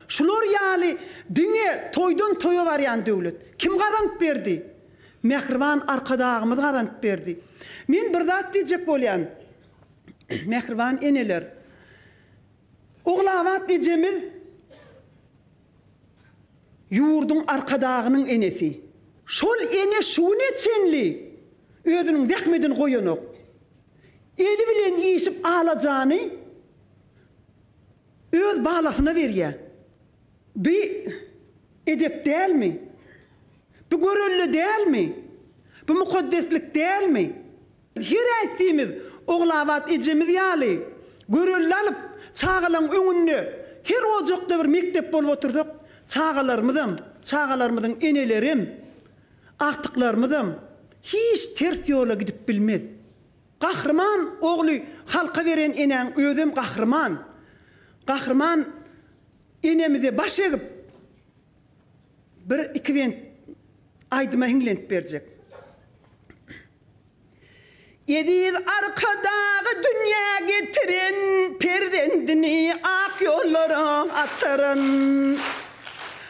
Şular ýaly diňe toýdan toýa barýan döwlet. Kim gazanyp berdi? Mähriban Arkadagymyz gazanyp berdi. Men bir zat diýjek bolýan. Mähriban eneler. Ogulabat ejemiz ýurduň Arkadagynyň enesi. Şol ene şu güne çenli özüniň zähmedini goýanok. Eli bilen işip alajany Öz balasyna berýä. Bi edep dälmi? Bi görelde dälmi? Bi mukaddeslik dälmi? Her äýtdiýimiz Ogulabat ejemiz ýaly görelde alyp, çagalaň öňünde her ojakda bir mekdep bolup otursak, çagalarymyzam, çagalarymyzyň enelerem, agtyklarymyzam hiç ters ýola gidip bilmez. Gahryman ogly halka beren enäň özem gahryman. Gahryman enemize baş egip bir iki bent aýdyma hiňlenip berjek. Eziz Arkadagy dünýä getiren perzendini ak ýollara ataran.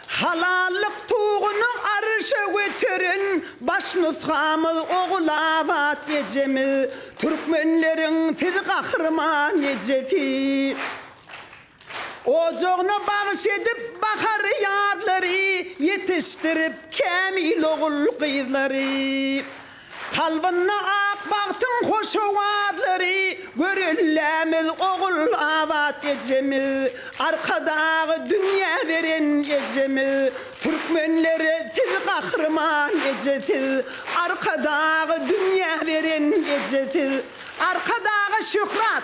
Halallyk tuguny arşa göteren baş nusgamyz Ogulabat ejemiz, türkmenleriň siz gahryman ejesi. Ojagyna bagyş edip bahary ýazlary, ýetişdirip kämil ogul gyzlary. Kalbynda ak bagtyň hoş owazlary, Görellämiz ogul abat ejemiz. Arkadagy dünýä beren ejemiz, Türkmenlere siz gahryman eje siz. Arkadagy dünýä beren eje siz. Arkadaga şöhrat,